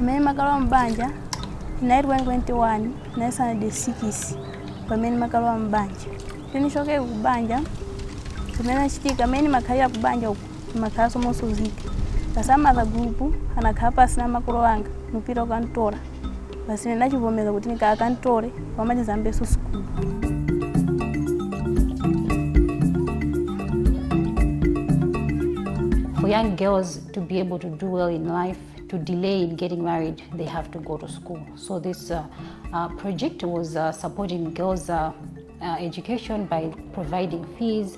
pamene ndimakalowa m'banja tinali 2021 tinali sanade 6 pamene ndimakalowa m'banja tinichokere ku banja zimene achitika mmene makhalira ku banja uku timakhalanso mosuzika basi amatha gulupu anakhala pasi na makolo anga mupira ukantora basi ine ndachivomeza kuti nika akantore pamachizambeso sukulu For young girls to be able to do well in life, to delay in getting married, they have to go to school. So this uh, uh, project was uh, supporting girls' uh, uh, education by providing fees,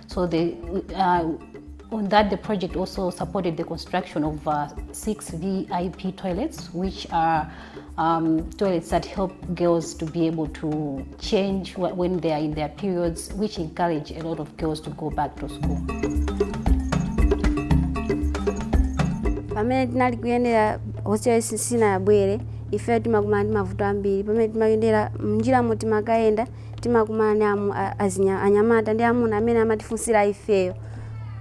So the, uh, on that, the project also supported the construction of uh, six VIP toilets, which are um, toilets that help girls to be able to change when they are in their periods, which encourage a lot of girls to go back to school. pamene tinali kuyendera hostel sinayabwere ife timakumana ndi mavuto ambiri pamene timayendera mnjiramo timakayenda timakumana ndi amu- a- azinya- anyamata ndi amuna amene amatifunsira ifeyo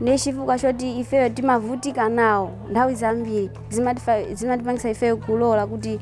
ndi chifukwa choti ifeyo timavutika nawo nthawi zambiri zimatifa- zimatipangitsa ifeyo kulola kuti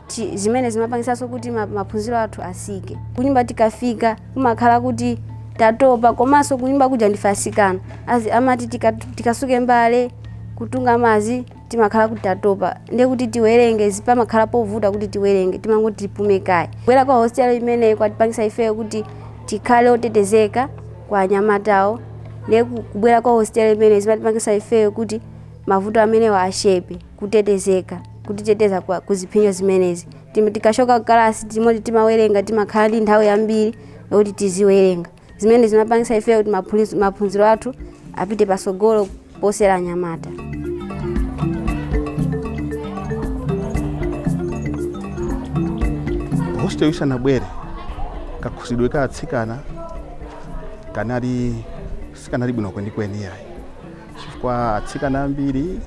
ti- zimene zimapangitsanso kuti ma- maphunziro athu asike kunyumba tikafika kumakhala kuti tatopa komanso kunyumba kuja ndife asikana Azi- amati tika- tikasuke mbale kutunga madzi timakhala kuti tatopa ndiye kuti tiwerenge zi- pamakhala povuta kuti tiwerenge timangoti tipume kaye kubwera kwa hostel imeneyi kwatipangisa ifeyo kuti tikhale otetezeka kwa anyamatawo ndiye ku- kubwera kwa hostel imeneyi zimatipangisa ifeyo kuti mavuto amenewa ashepe kutetezeka kutiteteza kwa ku zipsinjo zimenezi Tim- tikashoka kalasi timatha timawerenga timakhala ndi nthawi yambiri yokuti tiziwerenga zimene zimapangisa ifeyo kuti maphunz- maphunziro athu apite pasogolo posera anyamata hostel isanabwere kakhozedwe ka atsikana kanali sikanali bwino kwenikweni iyayi chifukwa atsikana ambiri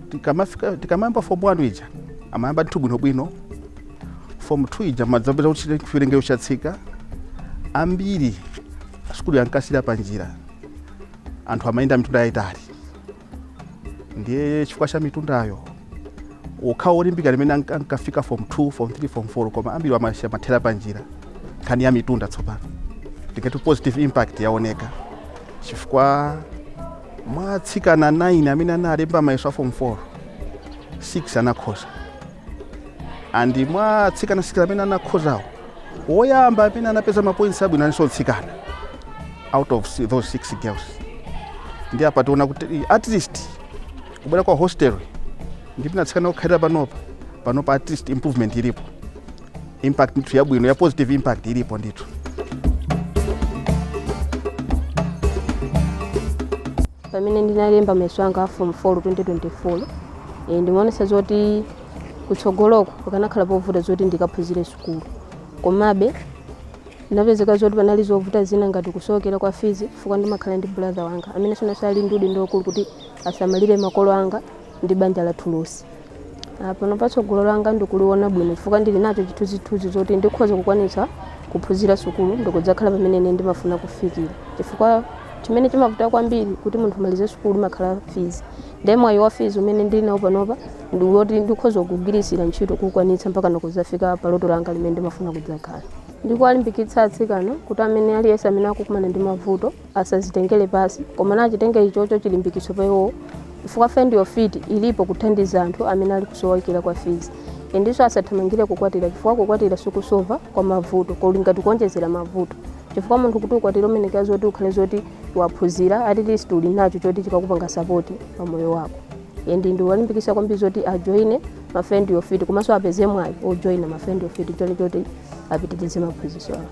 tikamafika- tikamayamba fomu wanu ija amayamba ndithu bwinobwino fomu 2 ija umadzapeza kuti chiwerengero chatsika ambiri sukulu ankasiyira pa njira anthu amayenda mitunda yayitali ndiye chifukwa cha mitundayo okhawo olimbika ndi amene anka- ankafika form 2 form 3 form 4 koma ambiri amathera pa njira nkhani ya mitunda tsopano tikati positive impact yaoneka chifukwa mwa atsikana 9 amene analemba mayeso a form 4 6 anakhoza and mwa atsikana 6 amene anakhozawo woyamba amene anapeza mapoints abwino analinso mtsikana out of si- those six girls ndi apa taona kuti eh, at least kubwera kwa hostel ndi kuti atsikana kukhalira panopa panopa at least improvement ilipo impact ndithu yabwino ya positive impact ilipo ndithu pamene ndinalemba mayeso anga a form 4 2024 e, ndimaonetsa zoti kutsogoloko pakanakhala povuta zoti ndikaphunzire sukulu komabe ndinapezeka zoti panali zovuta zina ngati kusowekera kwa fees chifukwa ndimakhala ndi brother wanga amene so nayenso ali ndi udindo waukulu kuti asamalire makolo anga ndi banja lathu lonse Ah, pano patsogolo langa ndikuliona bwino chifukwa ndili nacho chithunzithunzi zoti ndikhoza kukwanitsa kuphunzira sukulu ndikudzakhala pamene ine ndimafuna kufikira chifukwa chimene chimavuta kwambiri kuti munthu amalize sukulu imakhala fees Nde mwayi wa fees umene ndili nawo panopa ndi woti ndikhoza kugwiritsira ntchito kukwanitsa mpakana kudzafika pa loto langa limene ndimafuna kudzakhala. Ndikuwalimbikitsa atsikana kuti amene aliyense amene akukumana ndi mavuto asazitengere pansi koma nachitenge ichocho chilimbikitso pa iwowo chifukwa Find Your Feet ilipo kuthandiza anthu amene ali kusowekera kwa fees. Ndinso asathamangire kukwatira chifukwa kukwatira sikusova kwa mavuto kuli ngati kuonjezera mavuto chifukwa munthu kuti ukwatire umayenekera zoti ukhale zoti waphunzira at least uli nacho choti chikakupanga sapoti pa moyo wako and ndiwalimbikisa kwambiri zoti ajoine ma Find Your Feet komanso apeze mwayi ojoina ma Find Your Feet choni choti apitirize maphunziro awo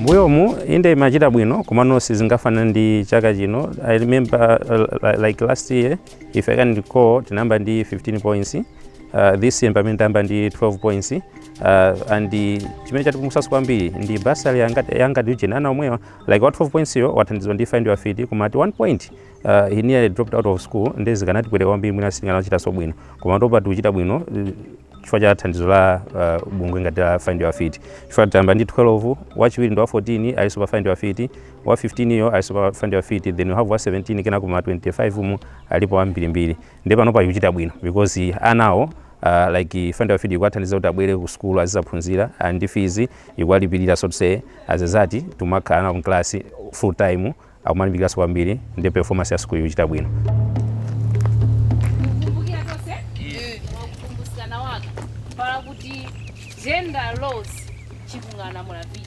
mbuyomu inde imachita bwino komano sizingafanane ndi chaka chino i remember uh, like last year if i can recall tinayamba ndi 15 points uh, this year pomwe tayamba ndi 12 points uh, and chimene chatipulumutsaso kwambiri ndi bursary ya Find Your Feet ana omwewa like wa 12 points yo wathandizwa ndi find your feet koma at one point uh, he nearly dropped out of school ndi zikanatipweteka kwambiri mwina sitikanachitaso bwino koma panopa tikuchita bwino uh, chifukwa cha thandizo la uh, bungwe ngati la find your feet chifukwa tayamba ndi 12 wachiwiri ndi wa 14 alinso pa find your feet wa 15 yo alinso pa find your feet then we have wa 17 kenako ma 25 mu alipo ambirimbiri ndiye panopa ikuchita bwino because anawo uh, like find your feet ikuwathandiza kuti abwere ku sukulu azizaphunzira and ndi fees ikuwalipirira so to say as a result tumakhala nawo mklasi full time akumalimbikiraso kwambiri ndi performance ya sukulu ikuchita bwino kukumbukira tonse wakukumbusana waka pala kuti gender laws chikungana mulavichi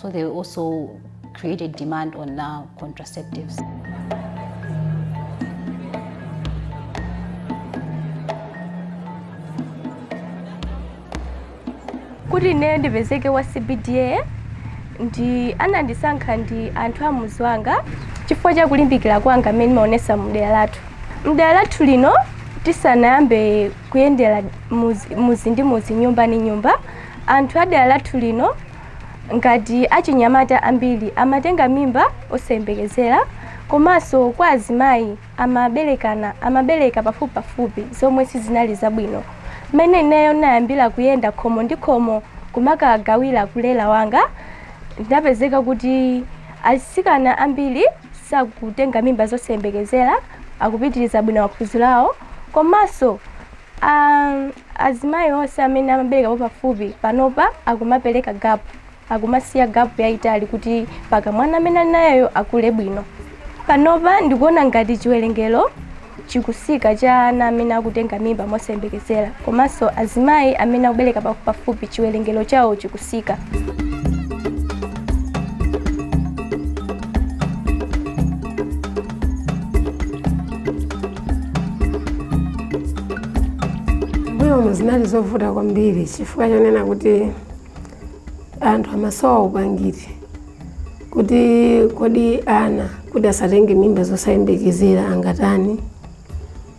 So they also created demand on uh, contraceptives. kuti ineyo ndipezeke wa cbda ndi anandisankha ndi anthu a muzi wanga chifukwa cha kulimbikira kwanga kumene ndimaonesa mdera lathu mdera lathu lino tisanayambe kuyendera muzi ndi muzi nyumba ndi nyumba anthu a dera lathu lino ngati achinyamata ambiri amatenga mimba zosayembekezera komanso kwa azimayi amaberekana amabereka pafupipafupi zomwe sizinali zabwino mmene ineyo ndinayambira kuyenda khomo ndi khomo kumakagawira kulera wanga zinapezeka kuti asikana ambiri sakutenga mimba zosayembekezera akupitiriza bwino maphunziro awo komanso azimayi onse amene amaberekapo pafupi panopa akumapereka gapu akumasiya gapu yayitali kuti paka mwana amene ali nayeyo akule bwino panopa ndikuona ngati chiwerengero chikutsika cha ana amene akutenga mimba mosayembekezera komanso azimayi amene akubereka pa- pafupi chiwerengero chawo chikutsika mbuyomu zinali zovuta kwambiri chifukwa chonena kuti anthu amasowa upangiri kuti kodi ana kuti asatenge mimba zosayembekezera angatani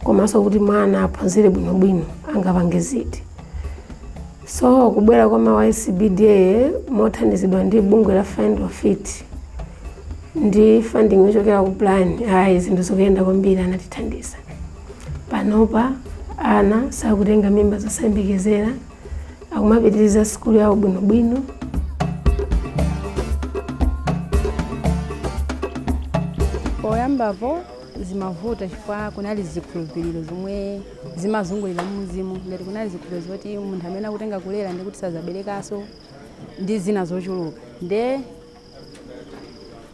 komanso kuti mwana aphunzire bwinobwino angapange ziti So kubwera kwa ma YCBDA mothandizidwa ndi bungwe la Find Your Feet ndi funding yochokera ku plan ayi zinthu zikuyenda kwambiri anatithandiza panopa ana sakutenga mimba zosayembekezera akumapitiriza sikulu yawo bwinobwino poyambapo zimavuta chifukwa kunali zikhulupiriro zomwe zimazungulira mmudzimo ngati kunali zikhulupiriro zoti munthu amene akutenga kulera ndikuti sazaberekaso ndi zina zochuluka nde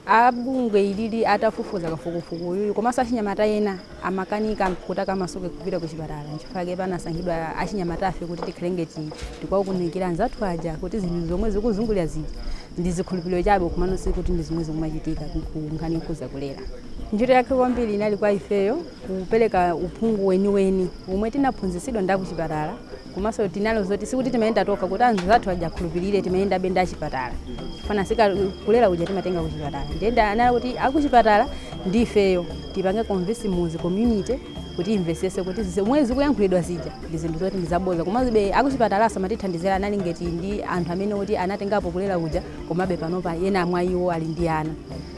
abungwe ilili atafufuza kafukufuku uyuyu komanso achinyamata ena amakanika kuti akamasuke kupita kuchipatala nchifukwa chake panasankhidwa achinyamatafe kuti tikhale ngati tikuwaunikira anzathu aja kuti zinthu zomwe zikuzungulira zija ndi zikhulupiriro chabe kumano sikuti ndi zomwe zikumachitika ku- ku nkhani yokhudza kulera ntchito yake kwambiri inali kwa ifeyo kupereka uphungu weniweni omwe tinaphunzitsidwa ndi akuchipatala komanso tinalo zoti sikuti timayenda tokha kuti anzathu aja akhulupirire timayendabe ndi achipatala chifukwa kulera uja timatenga kuchipatala nde zinali kuti akuchipatala ndi ifeyo tipange convince mudzi community kuti imvesese kuti zomwe zikuyankhulidwa zija ndi zinthu zoti ndizaboza komabe akuchipatala amatithandizira anali ngati ndi anthu amene oti anatengapo kulera uja komabe panopa ena mwa iwo ali ndi ana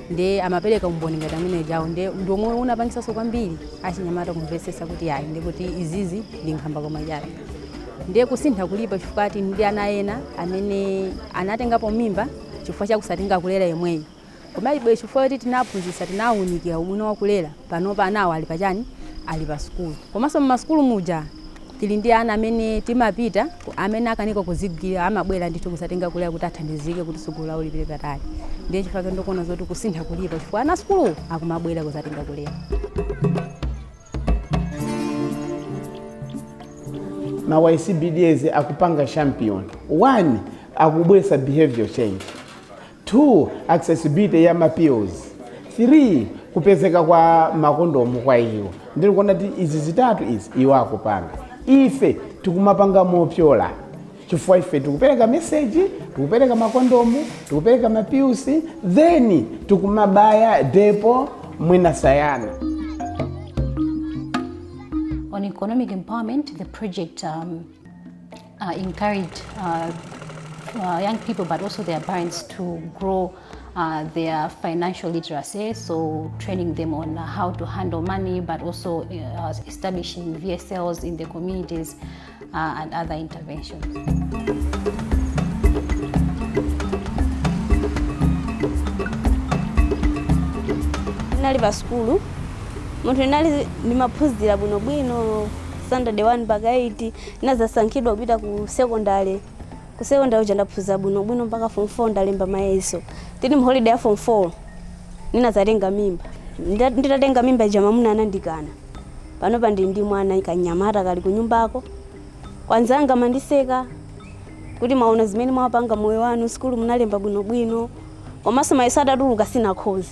nde amapereka umboni ngati amene ajawo nde ndi omwe unapangitsanso kwambiri achinyamata kumvetsetsa kuti ayi ndi kuti izizi ndi nkhambakamwa chabe ndiye kusintha kulipo chifukwa ati ndi ana ena amene anatengapo mimba chifukwa chakusatenga kulera yemweyo komabe chifukwa kuti tinaphunzitsa tinawunikira ubwino wa kulera panopa anawo ali pachani ali pa sukulu komanso mmasukulu muja Tili ndi ana amene timapita ku, amene akanika kuzigwira amabwera ndithu kuzatenga kulera kuti athandizike kuti tsogolo lawo lipite patali. Ndiye chifukwa chake ndikuona zoti kusintha kulipo chifukwa ana sukulu akumabwera kuzatenga kulera. ma YCBDs akupanga champion one akubwesa behavior change 2 accessibility ya ma pills 3 kupezeka kwa makondomu kwa iwo ndili kuona kuti izi zitatu izi iwo akupanga ife tikumapanga mopyola chifukwa ife tikupereka meseji tikupereka makondomu tikupereka mapilsi then tikumabaya depo mwina sayana on economic empowerment, the project um, uh, encourage uh, uh, young people but also their parents to grow uh, their financial literacy, so training them on how to handle money, but also uh, establishing VSLs in the communities uh, and other interventions. ndinali pa sukulu munthu ndinali ndimaphunzira bwinobwino standard 1 mpaka 8 ndinazasankhidwa kupita ku secondary ku secondary uja ndaphunzira bwino bwino mpaka form 4 ndalemba mayeso tili mu holiday ya form 4 ninazatenga mimba Nda- nditatenga mimba ija mamuna anandikana panopa ndili ndi mwana kanyamata kali kunyumbako anzanga amandiseka kuti mwaona zimene mwapanga moyo wanu sukulu munalemba bwinobwino komanso mayeso atatuluka sinakhoze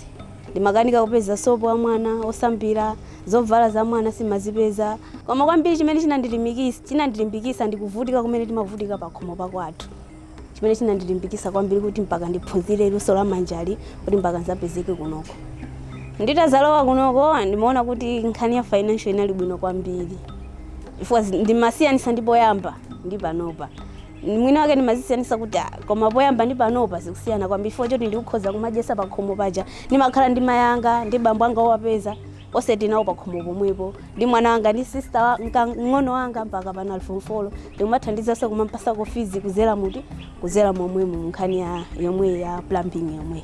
Ndimakanika kupeza sopo wa mwana wosambira, zovala za mwana simazipeza. Koma kwambiri chimene chinandilimbikis- chinandilimbikitsa ndi kuvutika kumene timavutika pa khomo pa kwathu. Chimene chinandilimbikitsa kwambiri kuti mpaka ndiphunzire luso la manjali kuti mpaka nzapezeke kunoko. Nditazalowa kunoko ndimaona kuti nkhani ya financial inali bwino kwambiri. Chifukwa zi- ndimasiyanitsa ndi poyamba ndi panopa. mwini wake ndimazisiyanisa kuti "Ah, koma poyamba ndi panopa zikusiyana kwambiri chifukwa choti ndikukhoza kumadyesa pa khomo paja ndimakhala ndi mayanga ndi bambo anga owapeza onse tinawo pa khomo pomwepo ndi mwana wanga ndi sista wa- nka- mng'ono wanga mpaka pano ali form 4 ndikumathandizanso kumampasako fizi kuzera muti kuzera momwemo munkhani yomweyi ya plumbing yomweyi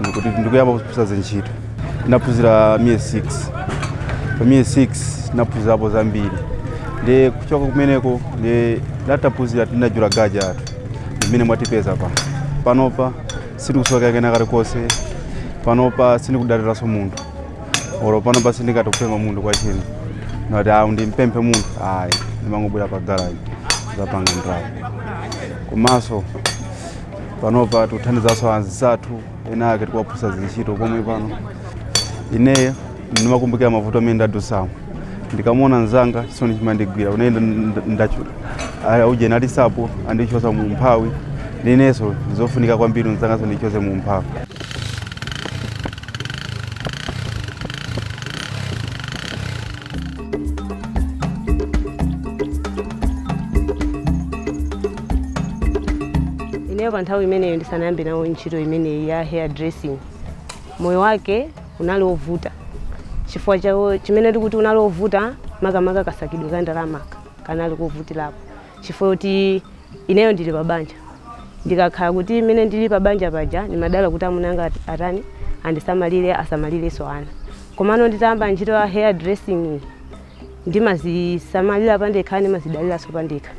ndikuti ndikuyamba kuphunzira zintchito ndinaphunzira miyezi 6 pa miyezi 6 ndinaphunzirapo zambiri ndiye kuchoka kumeneko ndiye nditaphunzira tinatsegula garaji yathu imene mwatipeza pa panopa sindikusowanso kena kalikonse panopa sindikudaliranso munthu olo panopa sindikutha kupempha munthu kwa chini nati awu ndimpemphe munthu ayi ndimangobwera pa garaji nzapanga ndalama komanso panopa tikuthandizanso anzathu ena ake tikuwaphunzitsa zintchito pomwe pano ineyo ndimakumbukira mavuto amene ndadusamo ndikamuona nzanga chisoni chimandigwira unene ndachula aya uje nalisapo andichosa mu mphawi inenso ndizofunika kwambiri nzanganso ndimchose mu mphawi ineyo pa nthawi imeneyo ndisanayambe nawo ntchito imeneyi ya hair dressing moyo wake unali wovuta chifukwa chawo chimene tikuti unali wovuta makamaka kasakidwe ka ndalama kanali kovutirapo chifukwa kuti ineyo ndili pa banja ndikakhala kuti imene ndili pa banja paja ndimadalira kuti amuna anga at- atani andisamalire asamalirenso ana komano nditayamba ntchito ya hair dressing iyi, ndimazisamalira pandekha ndimazidaliranso pandekha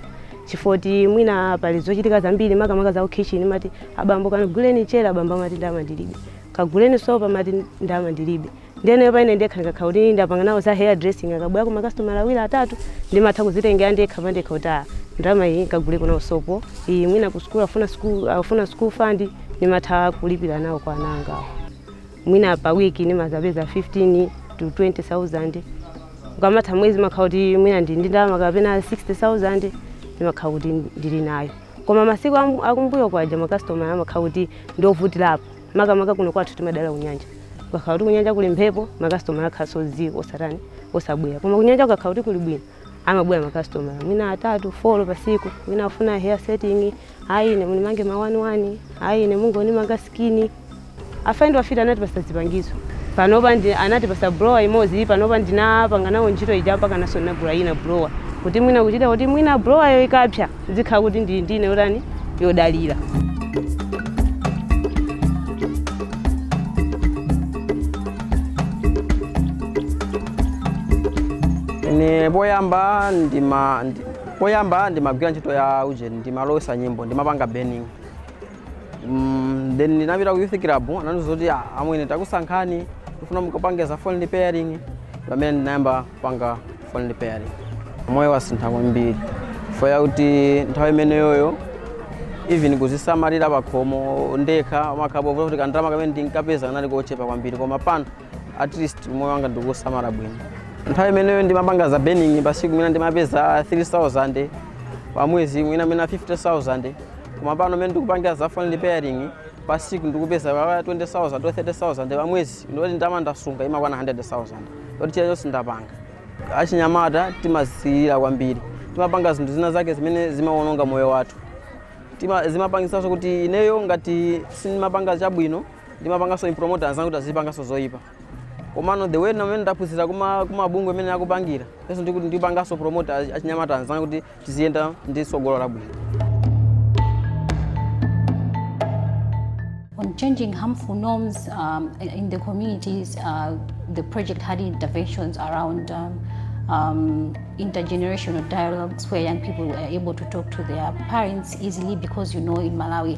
chifukwa kuti mwina pali zochitika zambiri makamaka za kukhitchini umati abambo kaniguleni mchere abambo amati ndama ndilibe kaguleni sopo amati ndama ndilibe ndiyeno paine ndekha ndikakhala kuti ndapanga nawo za hair dressing akabwera ku makasitomala awiri atatu ndimatha kuzitengera ndekha pandekha kuti ah, ndalama iyi nkaguleko nawo sopo iyi mwina ku sukulu afuna sukulu fund ndimatha kulipira nawo kwa ana anga mwina pa wiki nimazapeza 15 to 20000 ukamatha mwezi ndimakhala kuti mwina ndi ndi ndalama kapena 60000 ndimakhala kuti ndili nayo koma masiku amu- akumbuyo kwaja makastoma amakhala kuti ndiovutirapo makamaka kuno kwathu timadalira kunyanja kukakhala kuti kunyanja kuli mphepo makastoma amakhalanso ziii osatani osabwera koma kunyanja kukakhala kuti kuli bwino amabwera makastoma mwina atatu folo pasiku mwina afuna hair setting Ayi ine munimange ma wani wani, ayi ine mungonimanga sikini. Afaindo afiti anatipasa zipangizo. Panopa anatipasa blower imodzi, panopa ndinapanga nawo ntchito ija mpakananso ndinagula ina blower. Kuti mwina kuchita kuti mwina blower yo ikapsa, nzikhala kuti ndili ndi ina yotani yodalira. Ine poyamba ndima ndi- Poyamba ndimagwira ntchito ya ujeni, ndimalowesa nyimbo, ndimapanga burning. Mm, then ndinapita ku youth club, anandiuza kuti "Ah, amwene takusankhani, tifuna mukapange za phone repairing. Pamene ndinayamba kupanga phone repairing. Moyo wasintha kwambiri. Chifukwa choti nthawi imeneyoyo even kuzisamalira pakhomo ndekha kumakhala kovuta kuti kandalama kamene ndinkapeza kanali kochepa kwambiri koma pano at least umoyo wanga ndikusamala bwino nthawi imeneyo ndimapanga za burning pasiku mwina ndimapeza 3000 pamwezi mwina 50000 koma pano mene ndikupangira za phone repairing pasiku ndikupeza 20000 to 30000 pamwezi ndoti ndama ndasunga imakwana 100000 ndoti chilichonse ndapanga achinyamata timazilira kwambiri timapanga zinthu zina zake zimene zimawononga moyo wathu Tima- zimapangisanso kuti ineyo ngati sindimapanga chabwino ndimapanganso promote anzanga kuti azipanganso zoyipa komano the way mmene ndaphunzira kuma kumabungwe amene akupangira yeso ndikuti ndipanganso promote achinyamata anzanga kuti tiziyenda ndi tsogolo labwino on changing harmful norms um, in the communities. Uh, the project had interventions around um, um, intergenerational dialogues where young people were able to talk to their parents easily because you know in Malawi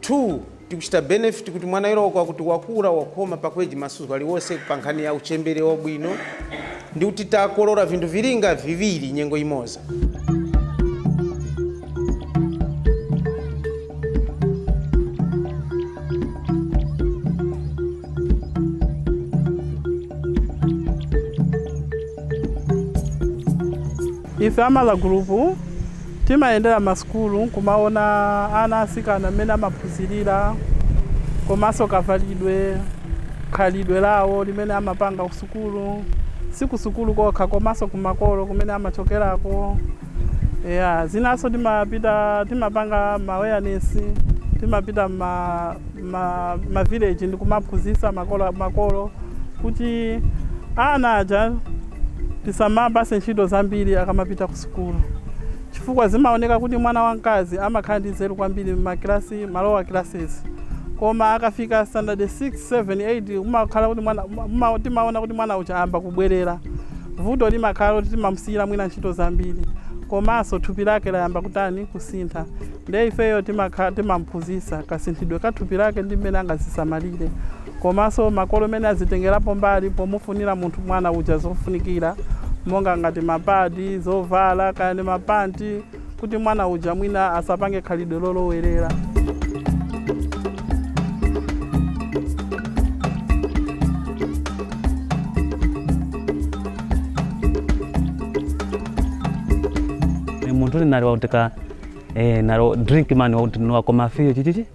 2 tikuchita benefit kuti mwana yero kwa kuti wakula wakhoma pakweji masuku aliwonse pa nkhani ya uchembere wabwino ndi kuti takolora vinthu vilinga viwiri nyengo imoza Ife a Mother Group timayendera ma sukulu nkumaona ana atsikana mmene amaphunzilira komanso kavalidwe, khalidwe lawo limene amapanga ku sukulu, si ku sukulu kokha komanso ku makolo kumene amachokerako. Eya, zinanso timapita timapanga ma awareness, timapita mma mma ma village ndikumaphunzitsa makolo makolo kuti ana aja. Tisamawapatse ntchito zambiri akamapita kusukulu chifukwa zimaoneka kuti mwana wamkazi amakhala ndi nzeru kwambiri m'makilasi, ma lower classes, koma akafika standard 6, 7, 8 kumakhala kuti mwana, timaona kuti mwana uja ayamba kubwerera. Vuto limakhala loti timamusiyira mwina ntchito zambiri komanso thupi lake layamba kutani, kusintha. Ndiye ifeyo timakhala, timamuphunzitsa kasinthidwe ka thupi lake ndi mmene angadzisamalire. komanso makolo mmene azitengelapo mbali pomufunila munthu, mwana uja zofunikila monga ngati ma pad, zovala kaya ndi ma pant kuti mwana uja mwina asapange khalidwe lolowelela. munthu uli nali wakutika eh, nalo drink man wakuti niwakoma fiyo chichichi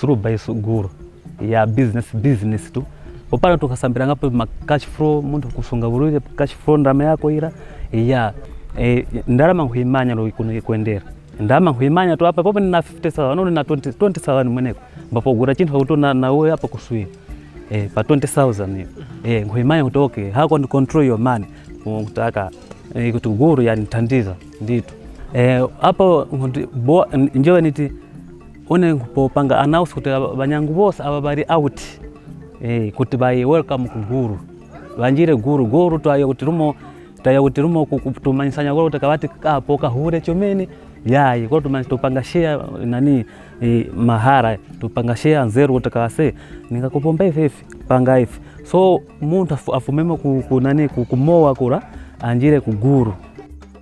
zulu by suguru ya business business tu popano tukasambira ngapo ma cash flow munthu kusunga bulire cash flow ndalama yako ira ya e, ndalama nkuimanya lo ikuno ikuendera ndalama nkuimanya tu apa popo nina 50000 nolo na 20 20000 mweneko mbapo gura chinthu kuti na na wewe apa kusuya e, pa 20000 hiyo e, nkuimanya kuti okay how can control your money kutaka e, kuti guru yanithandiza nditu e, apo nkuti bo njowe niti One popanga announce kuti aba- banyangu bose aba bali out eh, kuti baye welcome ku guru banjire guru guru twaye kuti lumo twaye kuti lumo ku- kutumanyisanya guru kuti kabati kapo kahure chomene yaye kwa tumanya tupanga share nani eh, mahara tupanga share nzeru kuti kase ningakupomba ife ife panga ife so munthu afu- afumemo ku, ku nani ku, kumowa kura anjire ku guru